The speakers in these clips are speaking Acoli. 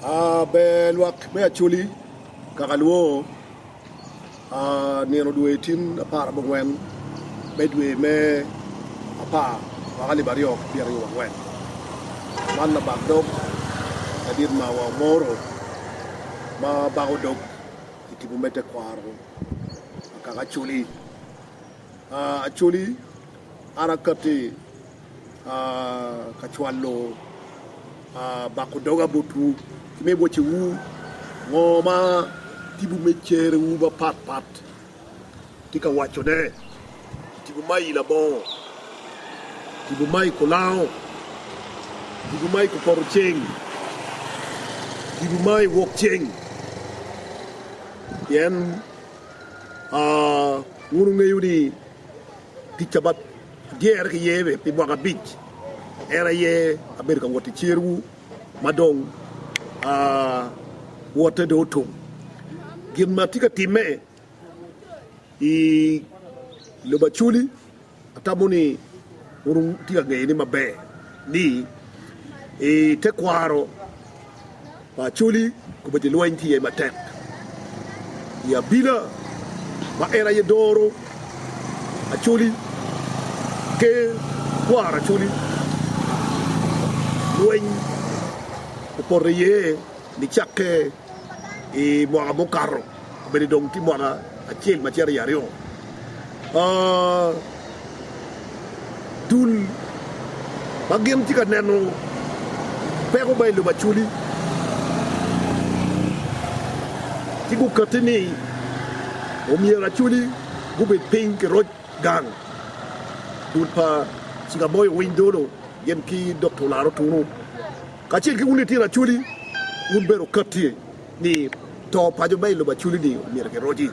A Ber lwak me Acholi kaka lwongo a nino dwe tin apar abongwen me dwe me apar mwaka alip aryo ki pyeraryo wangwen. Man labak dog madit ma wa moro ma bako dog i tipo me tekwaro a kaka Acholi. A Acholi, Ara kati. ka cwalo bako doga botwu ki me bocewu, ngo ma tipo me cerewu mapat pat tye ka wacone, tipo ma i labongo, tipo ma i kulango, tipo ma i kupoto ceng, tipo ma i wok ceng, pien wun wungeyo ni Tic ca bap dyere ki ye pi mwaka abic, en aye abedo ka wot i cerwu ma dong wotte dong otum. Gin ma tye ka timme i lobo Acoli, atamo ni wun wutye ka ngeyone maber ni i tekwaro, Pa Acholi obedo i lweny ki ye matek i abila ma en aye doro Acholi, ker kwaro Acholi, lweny opoto iye nicakke i mwaka mukato. Obedo dong tye mwaka acel ma cito i aryo. Dul ma gin tye ka neno peko ma i lobo Acholi ci gukatti ni omyero Acholi gubed piny ki roc gang. Dul pa Cigamoyo owiny dolo gin ki Dokta Olaro Tunu kacel ki wun litino Acholi wun bene wukatti. ni to pa jo ma i lobo Aculi-ni omyero kiroci.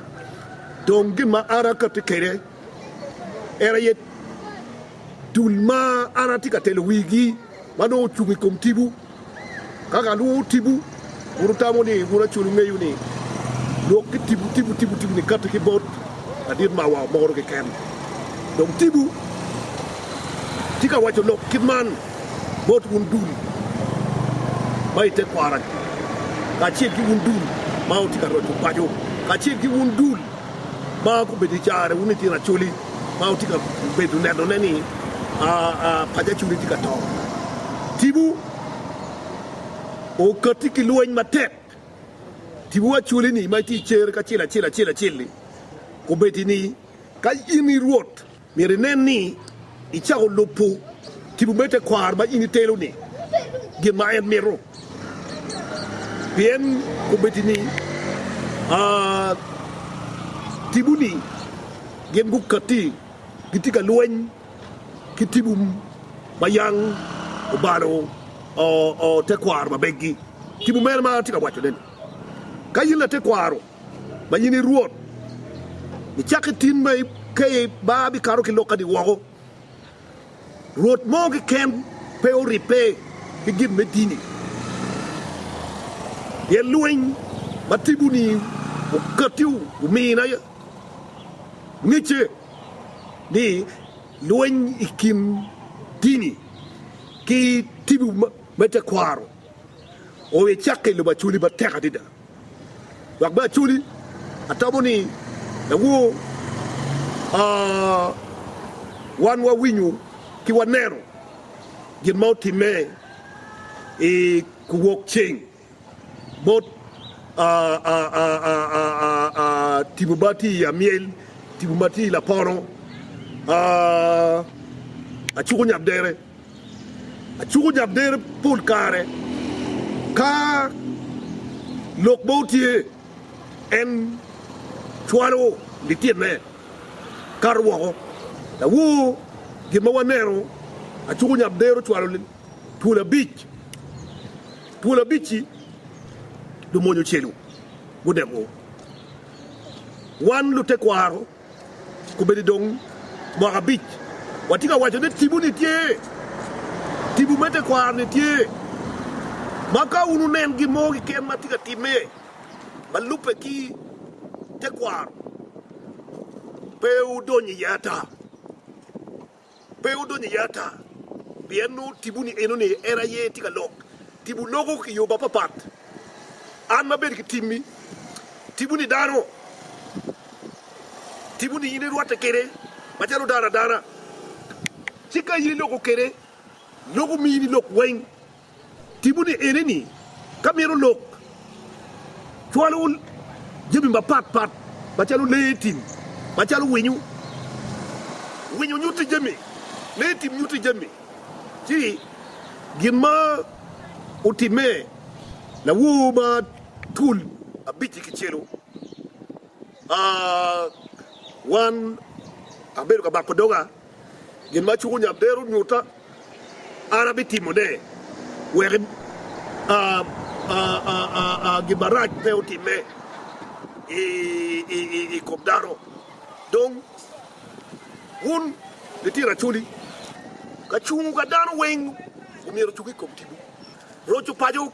Dong gin ma an akatti kwede en aye dul ma an atye ka telo wigi ma nongo ocung i kom tibu. Ka kalwongo tibu, wun wutamo ni wun Aculi wungeyo ni lwok ki tibu tibu tibu tibu ni katti ki bot ladit mawa moro keken. Dong tibu tye ka waco lok kit man. Bot wun dul ma i tekwaragi, kacel ki wun dul ma wutye ka roco paco, kacel ki wun dul ma gubedo i carre, wun litino acholi ma wutye ka bedo nenone ni paco acholi tye ka to, tibu okatti ki lweny matek, tibu acoli-ni ma itye i cer kacel acel acel acel-li, kobedo ni, Ka in i Rwot, Myero inen ni icako lubo tipo me tekwaro ma in itelo-ni gin ma en mito, pien obed ni tiponi gin gukatti, gitye ka lweny ki tipo ma yam obalo tekwaro ma beggi. Tipo mene ma atye ka wacone-ni? Ka in latekwaro, ma in i Rwot, icak ki tin ma ikeyo ba bikato ki lok adi woko. Rwot mo keken pe oribbe ki gin me dini, pien lweny ma tipo-ni oketti omina aye. Ngecce ni lweny i kin dini ki tipo me tekwaro oyo icakke i lobo acwali matek adada. Dok bene actually atamo ni dawoor wan wawinyo ki waneno gin ma otimme i kuwok ceng bot tipo ma tye i amyel, tipo ma tye i lapono, acuko nyap dere. Acuko jamdere pol kare ka lok mo tye, en cwalo litine kato woko. Lawor gin ma waneno, acuko jamdere ocwalo twol abic, twol abic-ci lumony ocelu gunego wan lutekwaro. Kobedi dong mwaka abic watye ka waco ni tibu-ni tye, tibu me tekwaro-ni tye, ma ka wun wunen gin mo keken ma tye ka timme ma lubbe ki tekwaro, pe wudony iye ata. Pe wudony iye ata, pien nongo tipo ni enoni en aye tye ka lok. Tipo loko ki yo mapapat. An ma bedo ki timmi, tipo ni dano, tipo ni in irwatte kwede macalo dano adana. Ci ka in iloko kwede, loko mini lok weng. Timone ene ni, ka mito lok cwalo jami mapat pat macalo lee tim macalo winyo, winyo nyuto jami, lee tim nyuto jami, ci gin ma otimme lawor ma twol abic-ci kicelo, wan abedo ka bako doga, gin ma cwunya bero nyuta. An abitimone wek gin marac pe otimme i kom dano. Dong wun litino acholi, kacungu ka dano weng omyero ocung i kom timwu. Roco paco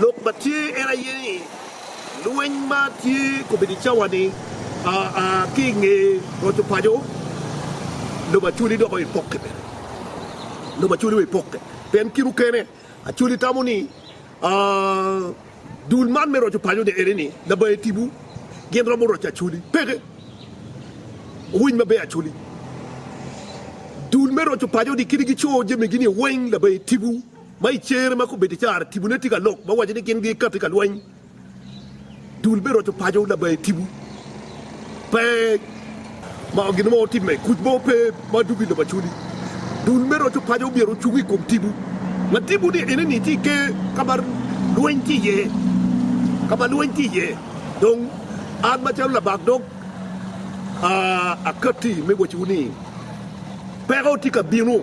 Lok ma tye en aye ni, lweny ma tye kobedo i cawa-ni ki i nge roco paco, lobo Acholi dok oye pokke bene. Lobo Acholi oye pokke pien kit okene Acholi tamo ni dul man me roco paco-ni ene ni labaye tipo gin romo roco Acholi. Peke! Wuwiny maber Acholi, dul me roco paco-ni kadi gico jamigi-ni weng labaye tipo. Ma i cer ma kubeddi cara tibu ne tye ka lok ma waco ni gin gikati ka lweny, dul me roco paco labaye tibu pe ma gin mo timme, kuc mo pe ma dugo i lobo acoli. Dul me roco paco omyero ocung i kom tibu, ma tibu ni ene ni tye i ker ka ma lweny tye iye, ka ma lweny tye iye. Dong an macalo labak dog akati me waciwu ni peko tye ka bino.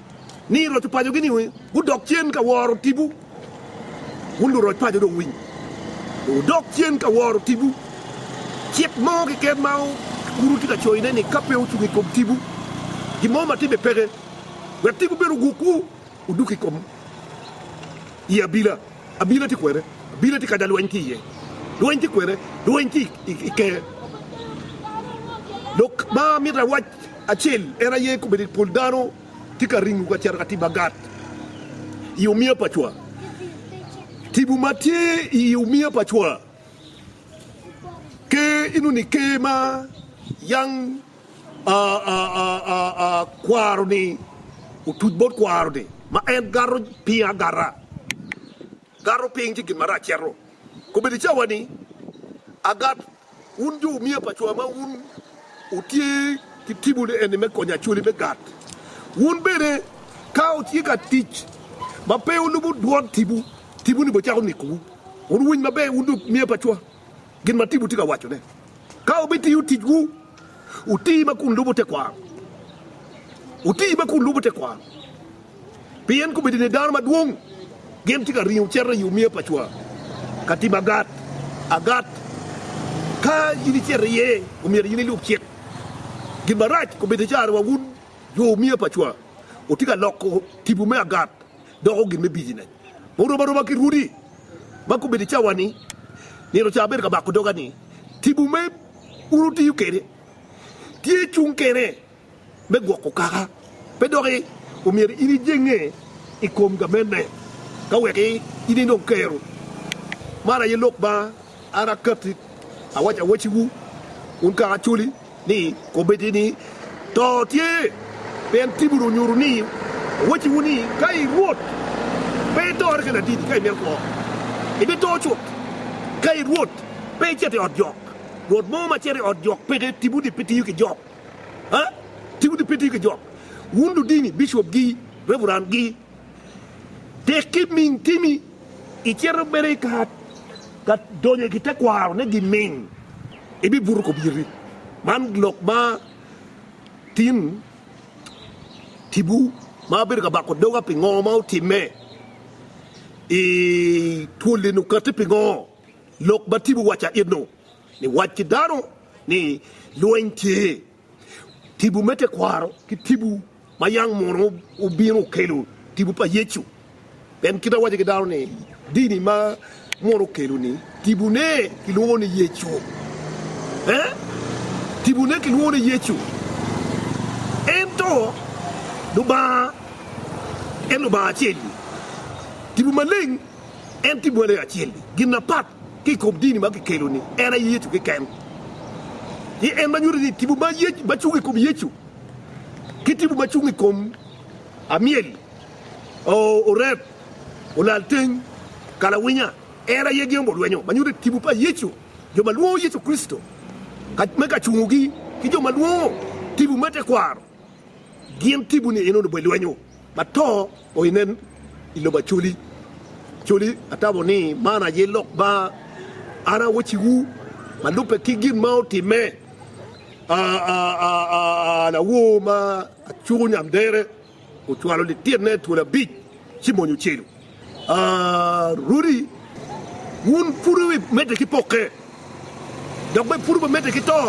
ni roc opacogi ni gudok cen ka woro tipo, wun luroc paco dong winy, wudok cen ka woro tipo. Cik mo keken ma wun wutye ka coyone ni ka pe wucung i kom tipo, gin mo matidi peke, wek tipo bene ogukwu, wuduk i kom i abila. Abila tye kwene? Abila tye ka da lweny tye iye. Lweny tye kwene? Lweny tye i ker. Lok ma amito awac. Acel, en aye kombeddi ni pol dano tye ka ringo ka cito ka tibo agat i omiya pa cwa. Tibo ma tye i omiya pa cwa ker inongo ni ker ma yang kwaro-ni otuc bot kwaro-ni ma en gato piny agata, gato piny ci gin marac cito. Kombeddi cawa-ni agat. Wun jo omiya pa cwa ma wun wutye ki tipo ni eni me konyo acholi me gat, wun bene ka wutye ka tic ma pe wulubo dwon tipo, tipo-ni bicako nikowu. Wun wuwiny maber, wun jo omiya pa cwa, gin ma tipo tye ka wacone. Ka wubitiyo ticwu Wuti ma kun lubo tekwaro, wuti ma kun lubo tekwaro, pien kobedo ni dano madwong gin tye ka ringo cito i omiya pa cwa ka tim agat agat. Ka in icito iye, omyero in ilub cik. Gin marac kobedo caro wa wun jo omiya pa cwa wutye ka loko tipo me agat doko gin me bijinec ma orom aroma ki rwodi ma kobedo cawa-ni nino ca abedo ka bako doga ni tipo me Wun wutiyo kede, tye cung kene me gwoko kaka, pe doki omyero in ijenge i kom gamenne, ka weki inind dong kero. Man aye lok ma an akatti awaco awaciwu, wun kaka acoli, ni komiti ni, To tye, pien timwu dong nyuto ni, awaciwu ni, ka i Rwot, pe itore kede adidi ka imito kwo, ibito cut, ka i Rwot, pe icito i ot jo. Rwot mo ma cito i ot jok peke tipo di pe tiyo ki jok a tipo di pe tiyo ki jok wun ludini bishop gi reverend gi tek ki ming timi i cito bene i ka ka donyo ki te kwaro ne gi ming i bi buto kop yiti man lok ma tin tipo ma abedo ka bako doga pi ngo ma otime i twoli ni okati pi ngo. Lok ma Tibu waco aye nongo ni wac ki dano ni lweny tye. Tibu me tekwaro ki tibu ma yang munu obino okelo tibu pa Yecu. Pien kite awaco ki dano ni dini ma munu okelo ni tibune kilwongo ni Yecu. Eh, tibune kilwongo ni Yecu. Ento Lubanga en Lubanga acel-li. Tibu maleng En tye bwele acel-li. Gin mapat ki i kom dini ma kikelo-ni, en aye Yecu keken. Pien en ma nyuto ni tipo ma cung i kom Yecu ki tipo ma cung i kom amyel, oreb, olalteng, kalawinya, en aye giyombo lwenyo ma nyuto ni tipo pa Yecu, jo ma lwongo Yecu Kricito me kacungogi, ki jo ma lwongo tipo me tekwaro, gin tipo-ni enono bene lwenyo. Ato o inen i lobo acoli coli, atamo ni man aye lok ma an awacciwu ma lubbe ki gin ma otimme lawor ma acuko nyamdere ocwalo lititne twol abic ci mony ocelu. Rwodi, wun pud wumedde ki pokke, dok bene pud wumedde ki to,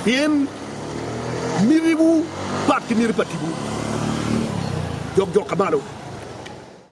pien mitiwu pat ki miti pa tibu jokjok ka malo.